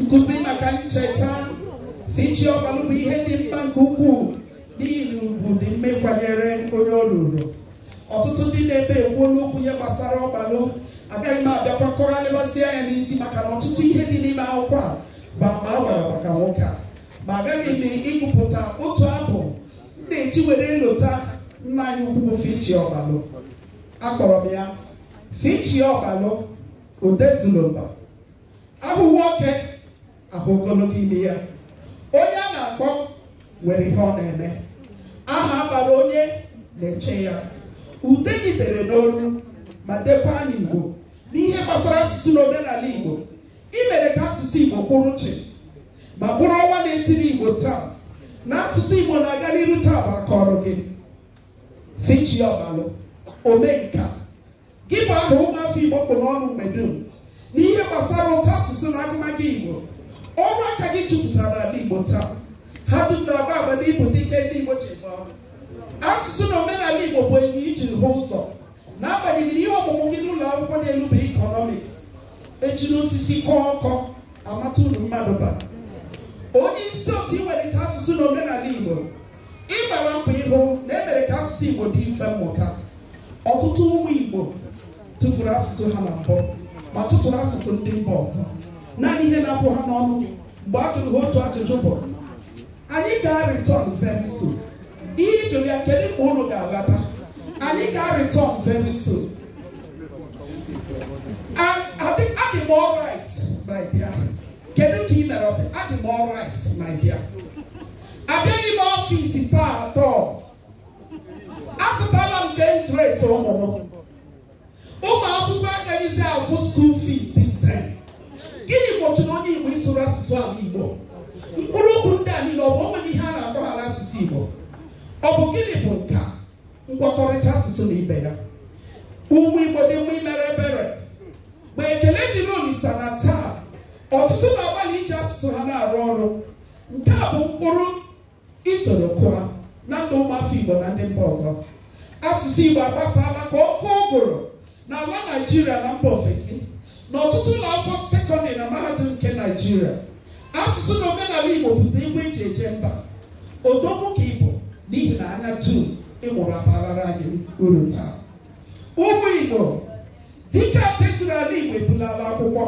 Nkụzi maka ncheta fichi ọgbalụ bụ ihe dị mkpa nke ukwuu n'ihi na ugwu dị mma ịkwanyere onye o ruru ọtụtụ ndị nọ ebe a ekwuona okwu n'ihe gbasara ọgbalụ agaghị m abịakwa kọgharịbazie ya n'isi maka na ọtụtụ ihe dị n'ime akwụkwọ a bụ ama a gbara maka nwoke a ma abịara m ịgụpụta otu abụ m na-eji were lota nna anyị ukwu bụ fichi ọgbalụ akpọrọ m ya fichi ọgbalụ Odezulumba a hụ nwoke a hụ ogologo imi ya onye a na-akpọ nwere ihe ọ na-eme aha a bara onye na-eche ya ude gị dere n'olu ma dekwa n'Igbo n'ihe gbasara asụsụ na omenala Igbo i mere ka asụsụ Igbo kwụrụ chịm ma bụrụ ọnwa na-etiri Igbo taa na asụsụ Igbo na-aga n'iru taa bụ aka ọrụ gị fichi ọgbalụ omenka Gị bụ aha ụmụafọ Igbo kpụ n'ọnụ mgbe dum n'ihe gbasara ụtọ asụsụ na agụmagụ Igbo ọrụ aka gị jupụtara n'ala Igbo taa ha dum na-agba ama na ị bụ dike ndị Igbo ji eme ọnụ asụsụ na omenala Igbo bụ anya i ji hụ ụzọ n'agbanyeghị ihe ọmụmụ gị n'ụlọ akwụkwọ n'elu bụ ikọnọmiks e jiri osisi kọọ ọkọ a mata uru mmadụ bara onye isi otu iwelite asụsụ na omenala Igbo ị gbara mbọ ịhụ na e mere ka asụsụ Igbo dị mfe mmụta ọtụtụ ụmụ Igbo tụfuru asụsụ ha na mbụ ma tụtụrụ asụsụ ndị mba ọzọ naanị ihe na-apụ ha n'ọnụ mgbe a jụrụ ha otu ajụjụ bụ anyị ga-arịtọn very soon ị jụọ ya kedu mgbe unu ga-alọta anyị ga-arịtọn very soon adị m alright my dear kedu ka ị mere ọ sị adị m alright my dear abịaghị m ọfịs taa at all azụtala m nke dress ụmụ m ụmụ akwụkwọ agaghịzi akwụ school fees this time gịnị gbochiri onye igbo ịsụrụ asụsụ ala igbo mkpụrụ okwu ndị a niile ọ bụ o nweghị ihe a na-akpọ ha n'asụsụ igbo ọ bụ gịnị bụ nke a ngwakọrịta asụsụ na ibe ya ụmụ igbo dị mma imere ebere ma ekele dịrị olisa na taa ọtụtụ na-agbalị iji asụsụ ha na-arụ ọrụ nke a bụ mkpụrụ i soro kụọ na ndụ ụmụafọ Igbo na ndị mba ọzọ asụsụ Igbo agbasala ka ọkụ ụgụrụ na ala Naijiria na mba ofesi na ọtụtụ ụlọ akwụkwọ sekọndịrị na mahadum nke Naijiria asụsụ na omenala Igbo bụzi igwe e ji eje mba odogwu ka ị bụ n'ihi na anya dum ị mụrụ abaarala anyị uru taa ụmụ Igbo dịka petụrụ ala Igbo ebulala akwụkwọ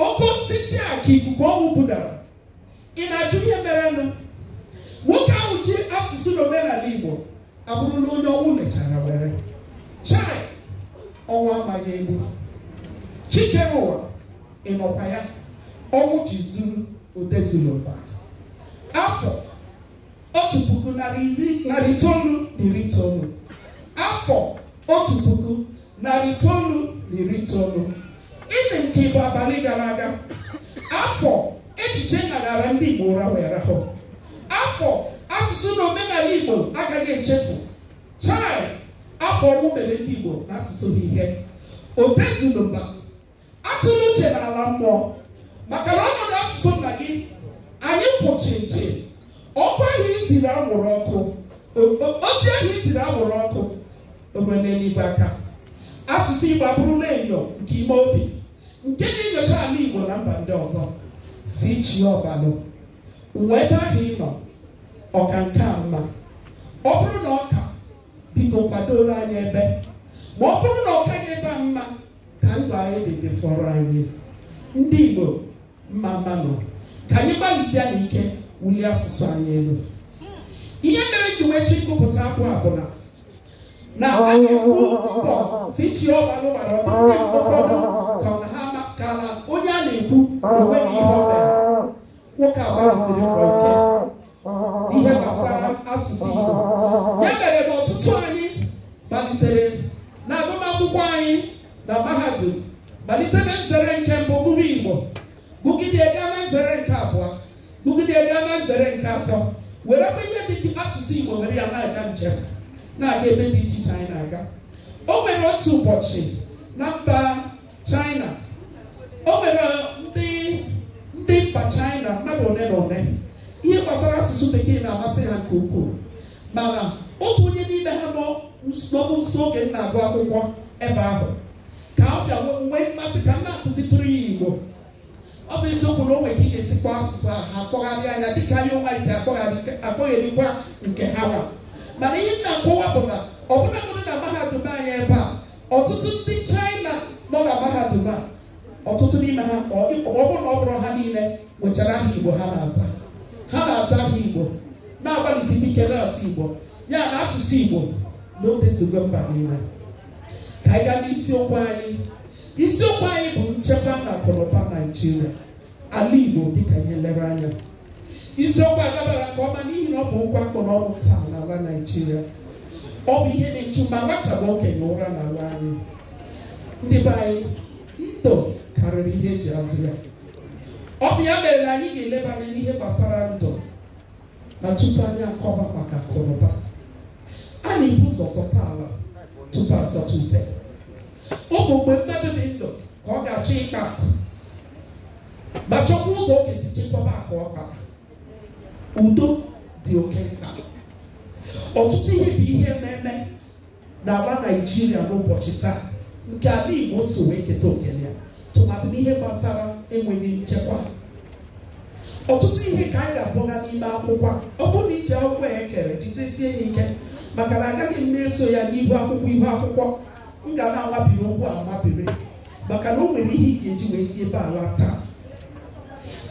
oke osisi a ka ikuku ọnwụ budara ị na-ajụ ihe merenụ nwoke ahụ ji asụsụ na omenala Igbo abụrụla onye ọnwụ mechara were chai ọnwụ amaghị egbu chi kere ụwa ị nọkwa ya ọnwụ ji zuru odezulumba afọ otu puku narị iri narị itoolu na iri itoolu afọ otu puku narị itoolu na iri itoolu ịdị nke ịbụ abalị gara aga afọ echiche naghara ndị Igbo ụra wee rahụ afọ asụsụ na omenala Igbo agaghị echefu chai afọ ọnwụ mere ndị Igbo na asụsụ ha ihe odezulumba atụla uche na ala mmụọ maka na ọnọdụ asụsụ nna gị anyị kwụ chịm chịm ọkwa ahụ i ziri anwụrụ ọkụ ozi ahụ i ziri anwụrụ ọkụ o bie n'eluigwe aka asụsụ igbo abụrụla enyo nke ime obi nke na-enyocha ala igbo na mba ndị ọzọ fichi Ọgbalụ ebe ahụ ị nọ ọ ka nke a mma ọ bụrụ na ọ ka biko kwadoro anyị ebe ma ọ bụrụ na ọ kaghị ebe a mma ka ndụ anyị dị fọrọ anyị ndị Igbo mma mma nụ ka anyị gbalịsịanụ ike wulie asụsụ anyị elu ihe mere m ji wee sị m gụpụta abụ a bụ na na a na-ekwu mbọ fichi Ọgbalụ gbara ọ dị ụfọdụ ka ọ na ha maka na onye a na-ekwu onweghị ihe ọ mere nwoke a gbalịsiri mbọ ike ihe gbasara asụsụ Igbo ya mere na ọtụtụ anyị malitere na agụmakwụkwọ anyị na mahadum malite na nzere nke mbụ bụrụ Igbo bụgide gaa na nzere nke abụọ bụgide gaa na nzere nke atọ were kwa ihe dị ka asụsụ Igbo were ya na-aga njem na-aga ebe dị iche iche anyị na-aga o nwere otu ụbọchị na mba China o nwere ndị ndị mba China mmadụ ole na ole ihe gbasara asụsụ bekee na-amasị ha nke ukwuu mana otu onye n'ime ha nọ nso oge m na-agụ akwụkwọ ebe ahụ ka ọ bịa nwee mmasị ka m na-akụzitụrụ ya Igbo ọ bụ eziokwu na o nwere ka ị ga-esikwa asụsụ a ha akpọgharị anya dịka anyị onwe anyị si akpọgharịkwa nke ha nwa mana ihe m na-akọwa bụ na ọbụna na mahadum anyị ebe a ọtụtụ ndị China nọ na mahadum a ọtụtụ n'ime ha ọ bụrụ na ọ bụrọ ha niile nwechara aha Igbo ha na-aza ha na-aza aha Igbo na-agbalịsi ike na-asụ Igbo ya na asụsụ Igbo na o dezugo mba niile ka anyị gaa n'isiokwu anyị isiokwu anyị bụ nchekwa na akụnụba Naijiria ala Igbo dịka anyị lere anya isiokwu a dabara nke ọma n'ihi na ọ bụ okwu a kpụ n'ọnụ taa n'ala Naịjirịa ọ bụ ihe na-echu ma nwata ma okenye ụra n'ala anyị ndị be anyị ndụ karịrị ihe eji azụ ya ọ bụ ya mere na anyị ga-eleba anya n'ihe gbasara ndụ na tupu anyị akọba maka akụnụba a na-ebu ụzọ zọta ala tupu azọta ute ọ bụ mgbe mmadụ dị ndụ ka ọ ga-achọ ịkpa akụ ma chọkwa ụzọ ọ ga-esi chekwaba akụ ọ kpara udo dị oke mkpa ọtụtụ ihe bụ ihe na-eme n'ala naijiria n'ụbọchị taa nke ala igbo so wee keta oke ya tụmadị n'ihe gbasara enweghị nchekwa ọtụtụ ihe ka anyị ga-akpọga n'ime akwụkwọ ọ bụrụ na i ji akwụkwọ a e kere jidesie ya ike maka na agaghị m na-eso ya n'ihu akwụkwọ ihu akwụkwọ m ga na-amabiri okwu amabiri maka na o nwere ihe ị ga-eji wee si ebe a laa taa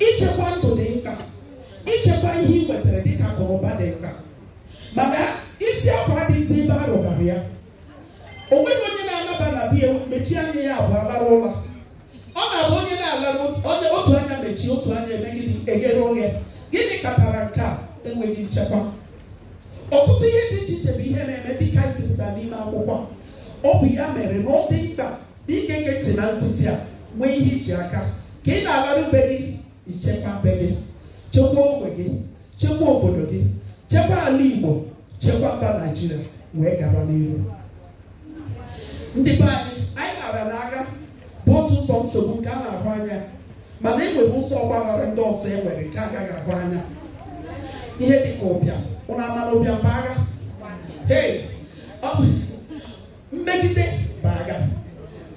ichekwa ndụ dị mkpa ichekwa ihe ị nwetara dịka akụnụba dị mkpa maka isi akwa adịghịzi ebe a rụbara ya o nweghị onye na-anaba na be ya mechie anya ya abụọ lara ụla ọ na-abụ onye na-ala onye otu anya mechie otu anya eme gịnị eghere oghe gịnị kpatara nke a enweghị nchekwa ọtụtụ ihe dị iche iche bụ ihe na-eme dịka e zipụtara n'ime akwụkwọ ọ bụ ya mere na ọ dị mkpa na ị ga-ege ntị na nkụzi a nwee ihe i ji aka ka ị na-alaru be gị i chekwa be gị chekwa ogbe gị chekwa obodo gị chekwa ala Igbo chekwa mba Naijiria wee gaba n'ihu ndị be anyị anyị mara na agha bụ otu ụzọ nsogbu nke a na-ahụ anya mana e nwere ụzọ ọgbaghara ndị ọzọ e nwere nke agaghị ahụ anya ihe dị ka ụbịam unu ama na ụbịam bụ agha hey mmegide bụ agha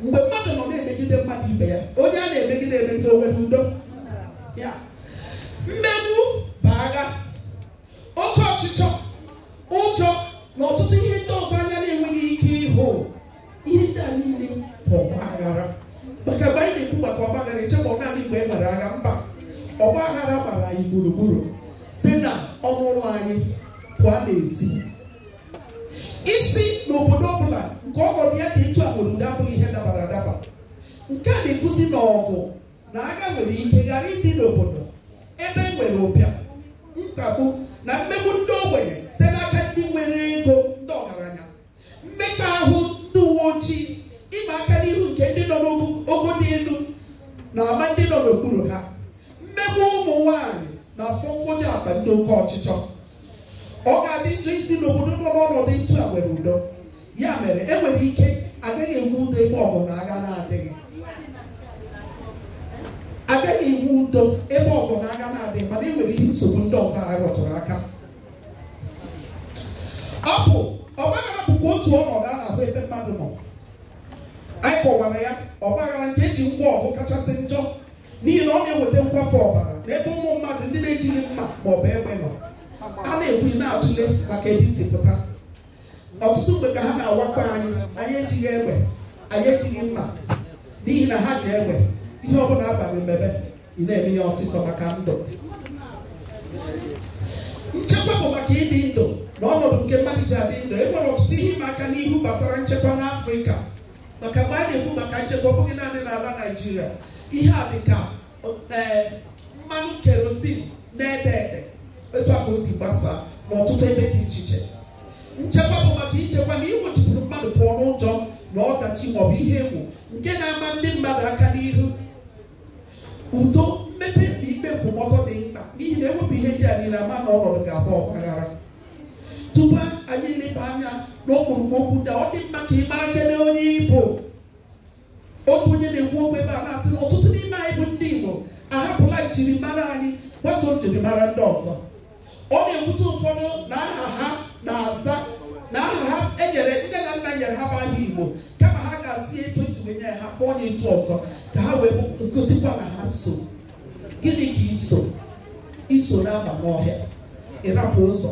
mgbe mmadụ nọ na-emegide mmadụ ibe ya onye a na-emegide emegide o nwere udo mmegbu bụ agha oke ọchịchọ ụjọ na ọtụtụ ihe ndị ọzọ anya na-enweghị ike ịhụ ihe ndị a niile bụ ọgba aghara maka mgbe anyị na-ekwu maka ọgba aghara echekwana ọ naanị mgbe e nwere agha mba ọgba aghara gbara anyị gburugburu site na ọnụ ụlọ anyị pụọ n'ezi ịsị na obodo ọbụla nke ọnọdụ ya dị etu a nwere udo abụghị ihe dabara adaba nke a na-egosi na ọgụ na agha nwere ike ghara ịdị n'obodo ebe e nwere ụbịam mkpagbu na mmegbu ndị ogbenye site n'aka ndị nwere ego ndị ọgaranya mmekpa ahụ ndị uwe ojii ịma aka n'ihu nke ndị nọ n'ogo dị elu na-ama ndị nọ n'okpuru ha mmegbu ụmụ nwanyị na afọ mfọdụ akpa ndị oke ọchịchọ ọ ga-adị njọ ịsị na obodo nọ n'ọnọdụ etu a nwere udo ya mere enwere ike agaghị enwe udo ebe ọgụ na agha na-adịghị agaghị enwe udo ebe ọgụ na agha na-adịghị mana enwere ihe nsogbu ndị ọzọ a rụtụrụ aka ọ bụ ọgbaghara bụkwa otu ọnọdụ a na-ahụ ebe mmadụ nọ anyị kọwara ya ọgbaghara nke eji ngwa ọgụ kachasị njọ n'ihi na ọ na-eweta nkwafu ọbara n'ebe ụmụ mmadụ ndị na-ejighị mma ma ọ bụ egbe nọ a na-ekwu na-atụle maka ebe i si pụta ọtụtụ mgbe ka ha na-awakwa anyị anyị ejighị egbe anyị ejighị mma n'ihi na ha ji egbe ihe ọ bụla a gwa gị mebe ị na-eme ya ọsịsọ maka ndụ nchekwa bụ maka ịdị ndụ na ọnọdụ nke mmadụ ji adị ndụ e nwere ọtụtụ ihe ịma aka n'ihu gbasara nchekwa n'afrịka maka mgbe a na-ekwu maka nchekwa ọ bụghị naanị n'ala naijiria ihe a dị ka mmanụ kerozin na-ede ede etu a ka o si gbasaa n'ọtụtụ ebe dị iche iche nchekwa bụ maka ichekwa na iwechipụrụ mmadụ pụọ n'ụjọ na ọdachi maọbụ ihe egwu nke na-ama ndị mmadụ aka n'ihu udo mmepe na ikpe nkwụmọtọ dị mkpa n'ihi na ewepụ ihe ndị a niile a ma na ọnọdụ ga-abụ ọgbaghara tupu anyị eleba anya n'okpurukpu okwu ndị ọ dị mma ka ị mara kene onye ị bụ otu onye na-ekwu okwu ebe a na-asị na ọtụtụ n'ime anyị bụ ndị Igbo ahapụla njirimara anyị gbaso njirimara ndị ọzọ ọ na-ewute ụfọdụ na aha ha na-aza na aha ha enyere nne na nna nyere ha bụ aha Igbo kama ha ga-aza ya etu e si wee nye ha kpọọ onye etu ọzọ ka ha wee gosikwa na ha so gịnị ka i so i so na-aba n'ọhịa ị rapụ ụzọ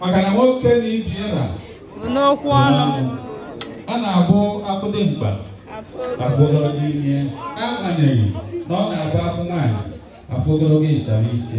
maka na nwoke na ibe ya ra bụ n'okwu ọnụ a na-abụ a fụ dimkpa a fụ ogologo imi ya n'agbanyeghị na ọ na-abụ a fụ nwaanyị a fụ ogologo ịchafụ isi